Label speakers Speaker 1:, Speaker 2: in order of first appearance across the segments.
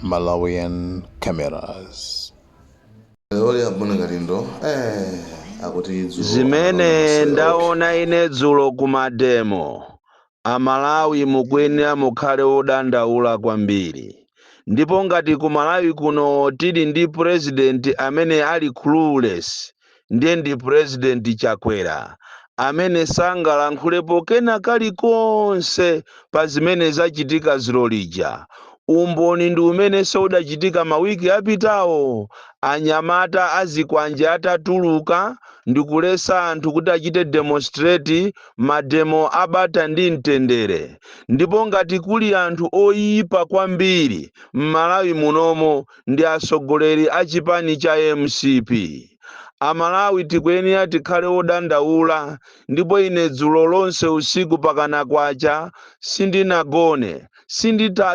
Speaker 1: Malawian cameras.
Speaker 2: Zimene ndaona ine dzulo ku mademo, Amalawi mukuyenera mukhale wodandaula kwambiri. Ndipo ngati ku Malawi kuno tili ndi president amene ali clueless, ndiye ndi president Chakwera amene sangalankhulepo kena kalikonse pa zimene zachitika dzulo lija. Umboni ndi umenenso udachitika mawiki apitawo anyamata azikwanje atatuluka ndikuletsa anthu kuti achite demonstrate mademo a bata ndi mtendere. Ndipo ngati kuli anthu oipa kwambiri m'Malawi munomo ndi atsogoleri a chipani cha mcp. Amalawi tikuyenera tikhale odandaula ndipo ine dzulo lonse usiku pakana kwacha sindinagone.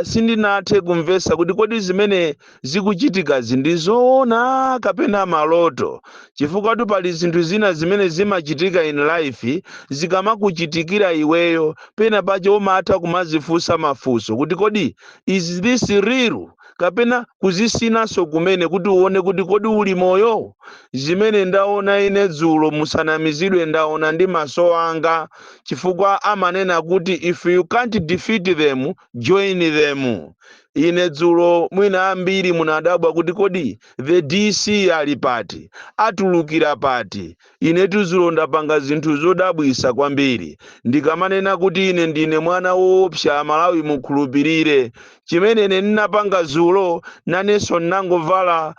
Speaker 2: Sindinathe kumvetsa kuti kodi zimene zikuchitikazi ndi zoona kapena maloto chifukwatu pali zinthu zina zimene zimachitika in life zikamakuchitikira iweyo pena pache umatha kumazifunsa mafunso kuti kodi is this real? kapena kuzisinanso kumene kuti uone kuti kodi uli moyo zimene ndaona ine dzulo musanamizidwe ndaona ndi maso anga chifukwa amanena kuti if you can't defeat them join them ine dzulo mwina ambiri munadabwa kuti kodi the dc ali pati atulukira pati Inetu dzulo ndapanga zinthu zodabwisa kwambiri. Ndikamanena kuti ine ndine mwana woopsa amalawi mukhulupilire. Chimene ine ndinapanga dzulo nanenso ndinangovala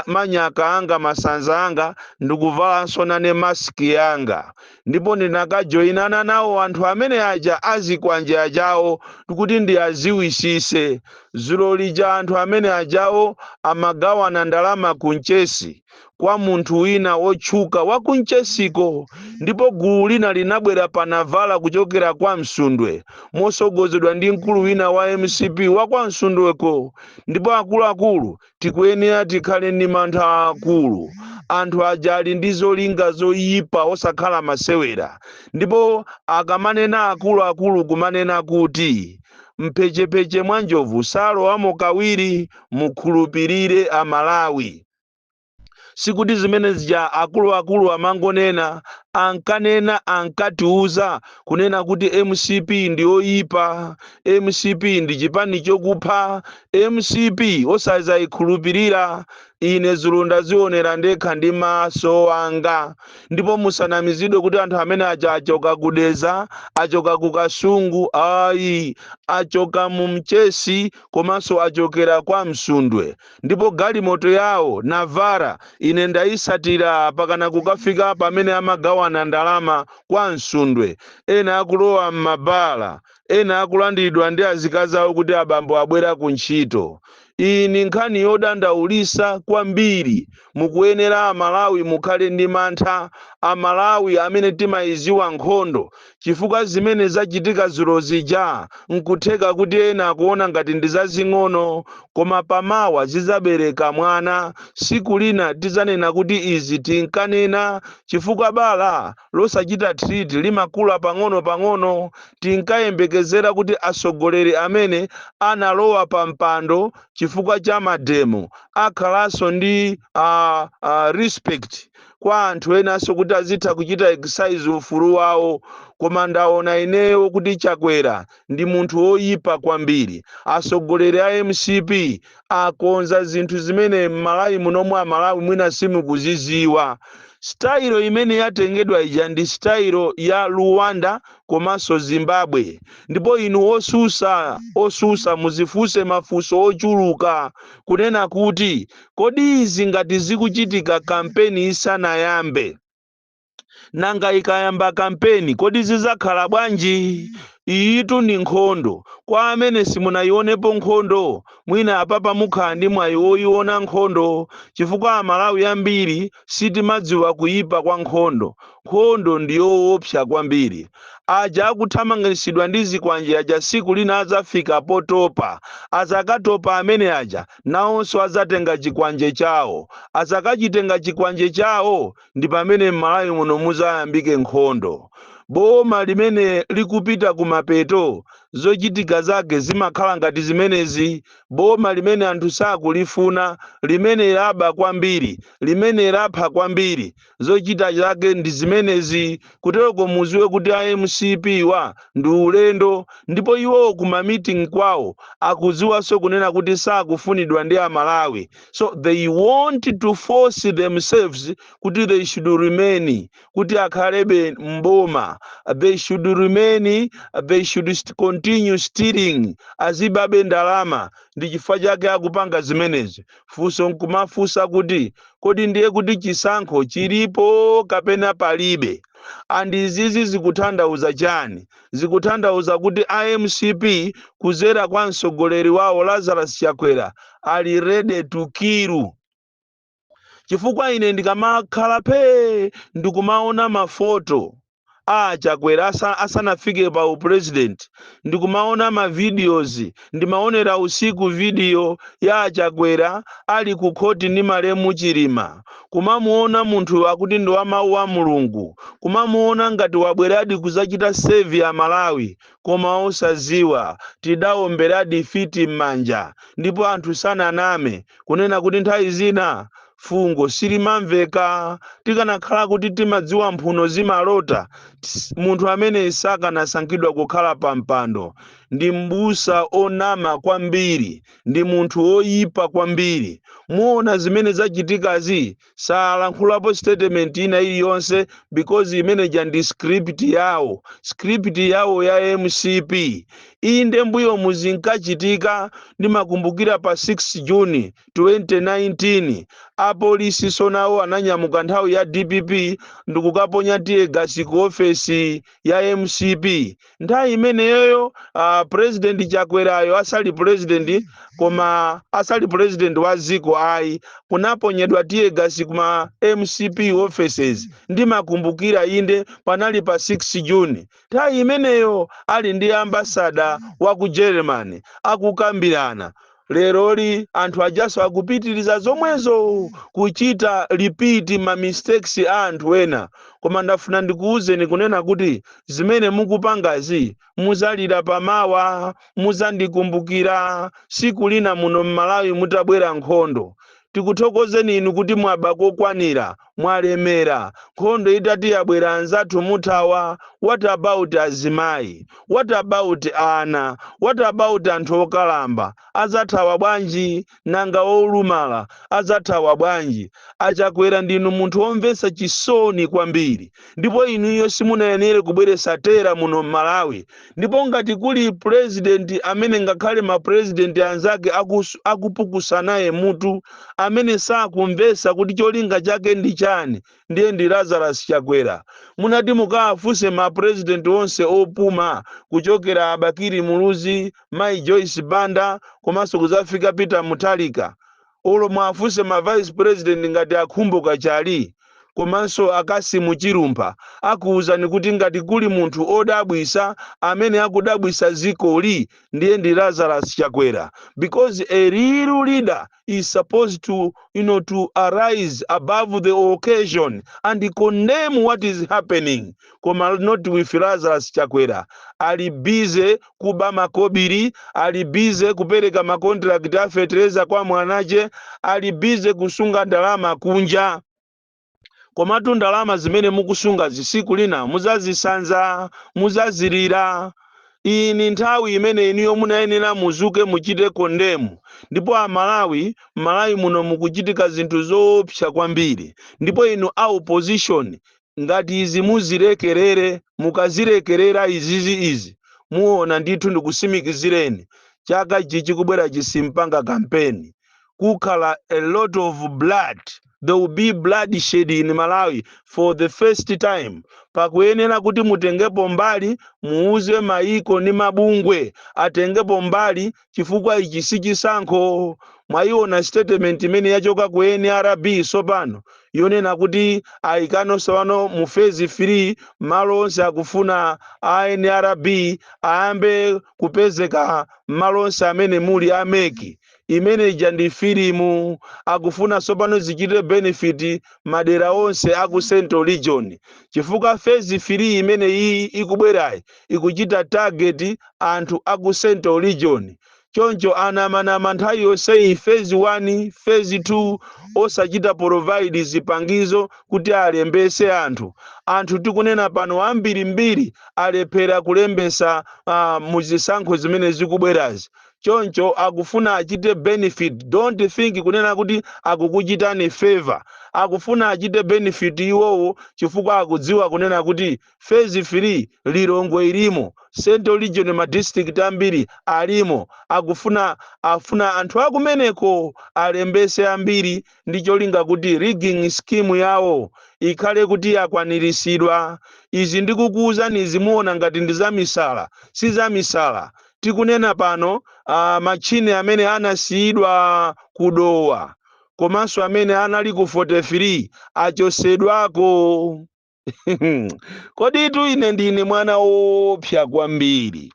Speaker 2: manyaka anga, masanza anga ndikuvalanso nane mask yanga. Ndipo ndinakajoinana nawo anthu amene aja azikwanje ajawo kuti ndiaziwisise. Dzulo lija anthu amene ajawo amagawana ndalama ku Mchesi. kwa munthu wina wotchuka wa ku Mchesiko ndipo gulu lina linabwera pa Navara kuchokera kwa Msundwe mosogozedwa ndi mkulu wina wa mcp wa kwa Msundweko ndipo akuluakulu tikuyenera tikhale ndi mantha aakulu anthu aja ali ndi zolinga zoyipa osakhala masewera ndipo akamanena akuluakulu kumanena kuti mphechepeche mwa njovu salowamo kawiri mukhulupirire amalawi sikuti zimene zija akuluakulu amangonena ankanena ankatiuza kunena kuti mcp ndi yoyipa mcp ndi chipani chokupha mcp osazayikhulupirira ine dzulo ndazionera ndekha ndi maso anga ndipo musanamizidwe kuti anthu amene aja achoka ku Dedza achoka ku kasungu ayi achoka mu mchesi komanso achokera kwa msundwe Ndipo galimoto yawo, Navara, ine ndaitsatira pakana kukafika pamene amagawana ndalama kwa Msundwe, ena akulowa m'mabala, ena akulandiridwa ndi azikazi awo kuti abambo abwera ku ntchito. Iyi ndi nkhani yodandaulitsa kwambiri. Mukuyenera Amalawi mukhale ndi mantha. Amalawi amene timaidziwa nkhondo chifukwa zimene zachitika dzulo zija n'kutheka kuti ena akuona ngati ndi zazing'ono, koma pamawa zidzabereka mwana, tsiku lina tidzanena kuti izi tinkanena chifukwa bala losachita treat limakula pang'onopang'ono, tinkayembekezera kuti atsogoleri amene analowa pa mpando chifukwa cha mademo akhalanso ndi uh, uh, respect. kwa anthu enanso kuti azitha kuchita exercise ufulu wawo koma ndaona ineyo kuti chakwera ndi munthu woyipa kwambiri atsogoleri a mcp akonza zinthu zimene m'malawi munomwe amalawi mwina simukuziziwa sitayilo imene yatengedwa ija ndi sitayilo ya rwanda komanso zimbabwe ndipo inu osusa osusa muzifunse mafunso ochuluka kunena kuti Kodi izi ngati zikuchitika kampeni isanayambe? Nanga ikayamba kampeni kodi zizakhala bwanji? Iyitu ndi nkhondo. Kwa amene simunayionepo nkhondo, mwina apapa mukhala ndi mwayi woiona nkhondo chifukwa Amalawi ambiri sitimadziwa kuipa kwa nkhondo. Nkhondo ndi yoopsa kwambiri. Aja akuthamangisidwa ndi zikwanje aja siku lina azafika potopa. Azakatopa amene aja. nawonso adzatenga chikwanje chawo. Adzakachitenga chikwanje chawo ndi pamene m'Malawi muno mudzayambike nkhondo. Boma limene likupita kumapeto zochitika zake zimakhala ngati zimenezi, boma limene anthu sakulifuna, limene laba kwambiri, limene lapha kwambiri. zochita zake ndi zimenezi kutereko muziwe kuti a mcp-wa ndi ulendo ndipo iwo ku ma meeting kwawo akudziwanso kunena kuti sakufunidwa ndi amalawi so they want to force themselves kuti they should remain kuti akhalebe mboma they should remain they should continue stealing azibabe ndalama ndi chifukwa chake akupanga zimenezi Funso nkumafunsa kuti kodi ndiye kuti chisankho chilipo kapena palibe? And izizi zikuthandauza chani? Zikuthandauza kuti a mcp kudzera kwa mtsogoleri wawo Lazarus Chakwera ali ready to kill. Chifukwa ine ndikamakhala phee ndikumaona ma photo. a chakwera asa, asanafike pa upresident ndikumaona ma videos ndimaonera usiku video ya achakwera ali ku khoti ndi malemu chilima kumamuona munthu akuti ndi wa mawu wa mulungu kumamuona ngati wabweradi kuzachita save a malawi koma osaziwa tidaomberadi fiti m'manja ndipo anthu sananame kunena kuti nthawi zina Fungo silimamveka. Tikanakhala kuti timadziwa mphuno zimalota, ts, munthu ameneyi sakanasankhidwa kukhala pa mpando. Ndi m'busa onama kwambiri. Ndi munthu woyipa kwambiri. Muona zimene zachitikazi? Salankhulapo statement ina iliyonse because imene ija ndi script yawo. Script yawo ya mcp. Inde m'mbuyomu zinkachitika. Ndimakumbukira pa 6 June 2019 apolisiso nawo ananyamuka nthawi ya dpp ndikukaponya tiyegasi ku ofesi ya mcp nthawi imeneyoyo uh, president chakwerayo asali president koma asali president wa ziko ayi kunaponyedwa tiyegasi kuma mcp offices ndimakumbukira inde panali pa 6 june nthawi imeneyo ali ndi ambasada wa ku germany akukambirana leroli anthu ajaso akupitiriza zomwezo kuchita repeat ma mistakes a anthu ena koma ndafuna ndikuwuzeni kunena kuti zimene mukupangazi muzalira pamawa muzandikumbukira siku lina muno m'malawi mutabwera nkhondo tikuthokozeni inu kuti mwaba kokwanira, mwalemera, nkhondo itati yabwera anzathu muthawa, what about azimayi? What about ana? What about anthu okalamba? Azathawa bwanji? Nanga olumala azathawa bwanji? A Chakwera ndinu munthu womvetsa chisoni kwambiri ndipo inuyo simunayenere kubweretsa terror muno m'Malawi ndipo ngati kuli pulezidenti amene ngakhale mapulezidenti anzake akus- akupukusa naye mutu amene sakumvetsa kuti cholinga chake ndi chani ndiye ndi lazarus chakwera munati mukawafunse mapulezidenti onse opuma kuchokera a bakili muluzi mayi joyce banda komanso kuzafika peter mutharika olo mwafunse ma vice president ngati a Khumbo Kachali komanso a Kassim Chilumpha akuuzani kuti ngati kuli munthu odabwisa amene akudabwisa dzikoli ndiye ndi Lazarus Chakwera because a real leader is supposed to you know to arise above the occasion and condemn what is happening koma not with Lazarus Chakwera ali busy kuba makobiri ali busy kupereka makontirakiti a fetereza kwa mwanache ali busy kusunga ndalama kunja komatu ndalama zimene mukusungazi siku lina muzazisanza muzazilira iyi ni nthawi imene inuyo munayenera muzuke muchite kondemu ndipo amalawi malawi muno mukuchitika zinthu zoopsa kwambiri ndipo inu a opposition ngati izi muzilekelere mukazilekelera izizi izi muona ndithu ndikusimikizireni chaka chi chikubwerachi simpanga kampeni kukhala a lot of blood there will be bloodshed in malawi for the first time pakuyenera kuti mutengepo mbali muuze maiko ni mabungwe atengepo mbali chifukwa ichi si chisankho mwayiona statement imene yachoka ku nrb sopano yonena kuti ayikano sopano mu phase 3 mmalo onse akufuna a nrb ayambe kupezeka mmalo onse amene muli a MEC imene ija ndi filimu akufuna sopano zichite benefit madera onse aku central region chifukwa phase 3 imene iyi ikubwerayi ikuchita target anthu aku central region choncho anamanama nthawi yonseyi phase 1 phase 2 osachita provide zipangizo kuti alembese anthu. Anthu tikunena pano ambirimbiri alephera kulembesa uh, muzisankho zimene zikubwerazi choncho akufuna achite benefit don't think kunena kuti akukuchitani favor akufuna achite benefit iwowo chifukwa akudziwa kunena kuti Phase 3 Lilongwe ilimo, Central Region ma district ambiri alimo akufuna afuna anthu akumeneko alembese ambiri ndi cholinga kuti rigging scheme yawo ikhale kuti yakwanilisidwa. Izi ndikukuuzani izi muona ngati ndi zamisala, si zamisala. Tikunena pano ah, matchini amene anasiyidwa ku Dowa komanso amene anali ku 43 achosedwako. kodi itu ine ndine mwana woopsa kwambiri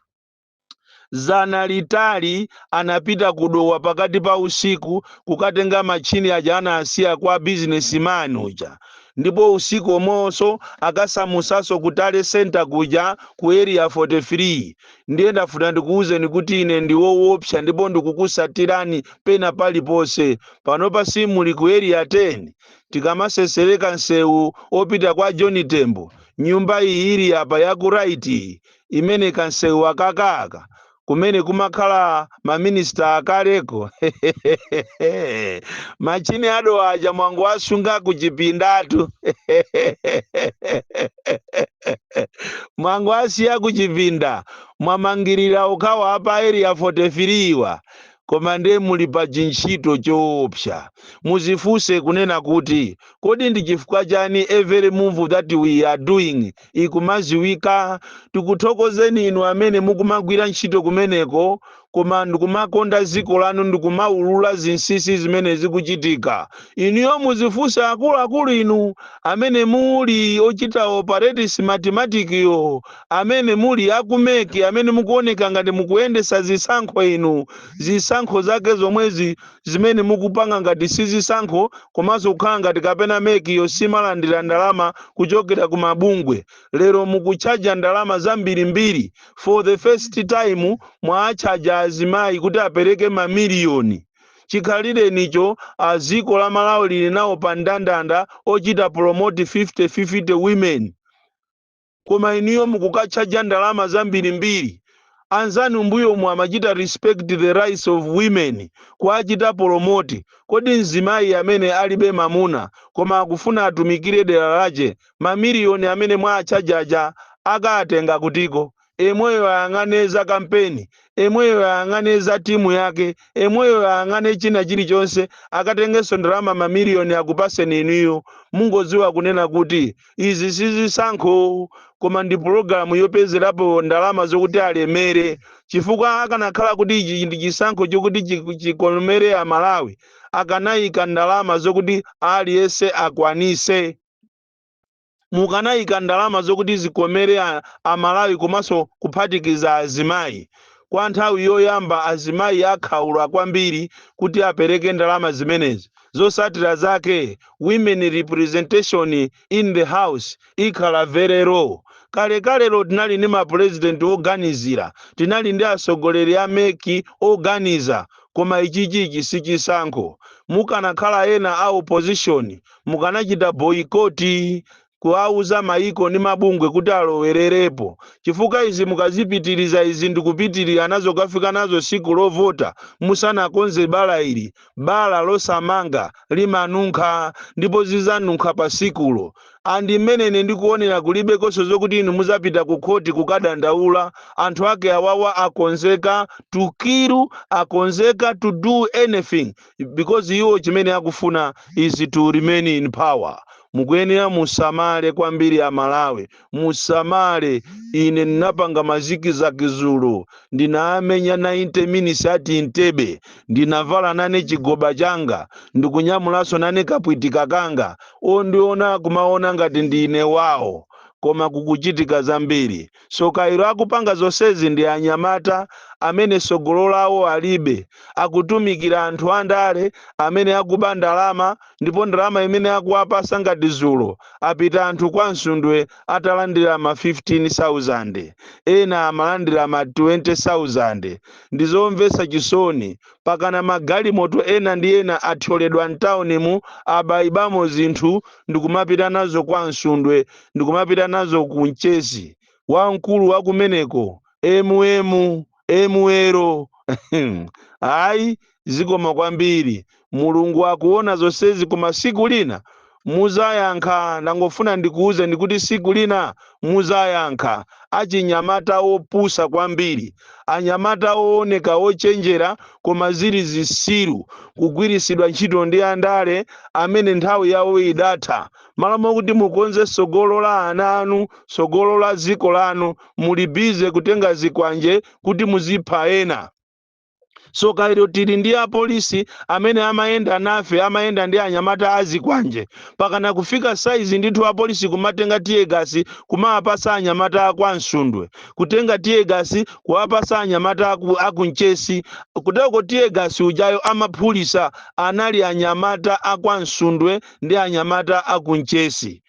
Speaker 2: zana litali anapita kudowa pakati pa usiku kukatenga machini aja anasiya kwa bizinesimani uja ndipo usiku omwewonso akasamutsaso ku tale center kuja ku area 43 ndiye ndafuna ndikuwuzeni kuti ine ndiwowopsa ndipo ndikukusatirani pena paliponse panopa simuli ku area 10 tikamasesereka msewu opita kwa john tembo nyumba iyi ili apa yaku right iyi imene kamsewu akaka aka kumene kumakhala maminista akaleko machini a Dowa aja mwangowasunga kuchipindatu mwangowasiya kuchipinda mwamangirira mukhawa apa area 43 wa Koma nde muli pa chintchito choopsa. Muzifunse kunena kuti, kodi ndi chifukwa chani every move that we are doing ikumaziwika? Tikuthokozeni inu amene mukumagwira ntchito kumeneko koma ndikumakonda ziko lanu ndikumaulula zinsisi zimene zikuchitika. Inuyo muzifunse akuluakulu inu amene muli ochita operate Smartmatic yo. amene muli a ku mec amene mukuoneka ngati mukuyendesa zisankho inu zisankho zake zomwezi zimene mukupanga ngati si zisankho komanso kukhala ngati kapena mec yo simalandira ndalama kuchokera ku mabungwe lero mukutchaja ndalama zambirimbiri for the first time mwaatchaja azimayi kuti apereke ma million chikhalirenicho a ziko la malawi lili nawo pa ndandanda ochita promote 50 50 women. koma inuyo mukukatchaja ndalama zambirimbiri. Anzanu m'mbuyomu amachita respect the rights of women kuwachita promote, kodi mzimayi amene alibe mamuna koma akufuna atumikire dera lache mamiliyoni amene mwaatchaja aja akaatenga kutiko? Emweyo ayang'ane za kampeni emweyo ayang'ane za timu yake, emweyo ayang'ane china chilichonse, akatengenso ndalama ma million akupaseni inuyo. Mungoziwa kunena kuti izi sizisankho koma ndi pulogalamu yopezerapo ndalama zokuti alemere chifukwa akanakhala kuti ichi ndi chisankho chokuti chikomere amalawi akanayika ndalama zokuti aliyense akwanise mukanayika ndalama zokuti zikomere a Malawi komanso kuphatikiza azimayi. Kwa nthawi yoyamba azimayi akhaula kwambiri kuti apereke ndalama zimenezi. Zosatira zake women representation in the house ikhala very low. Kalekalelo tinali ndi mapulezidenti oganizira, tinali ndi atsogoleri a mec oganiza, koma ichichichi sichisankho. Mukanakhala ena a opposition mukanachita boycott kuwauza maiko ndi mabungwe kuti alowererepo chifukwa izi mukazipitiliza izi ndikupitilira nazo kafika nazo siku lovota musanakonze bala ili bala losamanga limanunkha ndipo zizanunkha pa sikulo and mmene ine ndikuonera kulibenso zokuti inu muzapita ku khoti kukadandaula anthu ake awawa akonzeka to kill akonzeka to do anything because iwo chimene akufuna is to remain in power mukuyenera musamale kwambiri a Malawi musamale ine ndinapanga ma ziki za kizulu ndinaamenya 90 minutes at Entebbe ndinavala nane chigoba changa ndikunyamulanso nane kapwitika kanga ondiona kumaona ngati ndine wawo koma kukuchitika zambiri Soka ilo akupanga zonsezi ndi anyamata amene tsogolo lawo alibe, akutumikira anthu andale amene akuba ndalama ndipo ndalama zimene akuwapasa ngati zulo apita anthu kwa Msundwe atalandira ma 15,000 ena amalandira ma 20,000 ndizomvetsa chisoni pakana magalimoto ena ndi ena athyoledwa mtaunimu abaibamo zinthu ndikumapita nazo kwa Msundwe ndikumapita nazo ku Mchesi wamkulu wakumeneko mm emuelo ayi zikoma kwambiri mulungu akuona zonsezi koma siku lina muzayankha ndangofuna ndikuuzeni kuti siku lina muzayankha achinyamata opusa kwambiri anyamata ooneka ochenjera koma zili zisiru kugwirisidwa ntchito ndi andale amene nthawi yawo idatha malo mokuti mukonze tsogolo la ana anu tsogolo la dziko lanu muli bize kutenga zikwanje kuti muzipha ena soka ilo tili ndi apolisi amene amayenda nafe amayenda ndi anyamata azikwanje pakana kufika saizi ndithu apolisi kumatenga tiyegasi kumawapasa anyamata akwa Msundwe kutenga tiyegasi kuwapasa anyamata aku Mchesi kuteko tiyegasi ujayo amaphulisa anali anyamata akwa Msundwe ndi anyamata a ku Mchesi,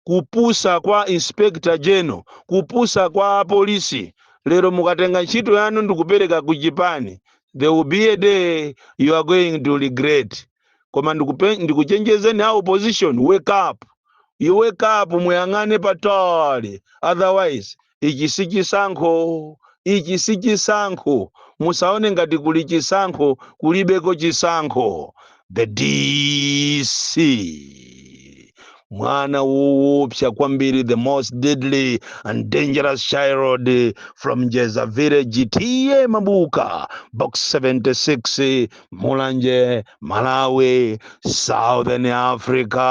Speaker 2: kupusa kwa Inspector General, kupusa kwa apolisi. Lero mukatenga ntchito yanu ndikupereka ku chipani, there will be a day you are going to regret. Koma ndikuchenjezeni a opposition, wake up. You wake up, muyang'ane patali, otherwise ichi sichisankho ichi sichisankho musaone ngati kuli chisankho kulibeko chisankho the dc mwana woopsa kwambiri the most deadly and dangerous child from jeza village ta mabuka box 76 mulanje malawi southern africa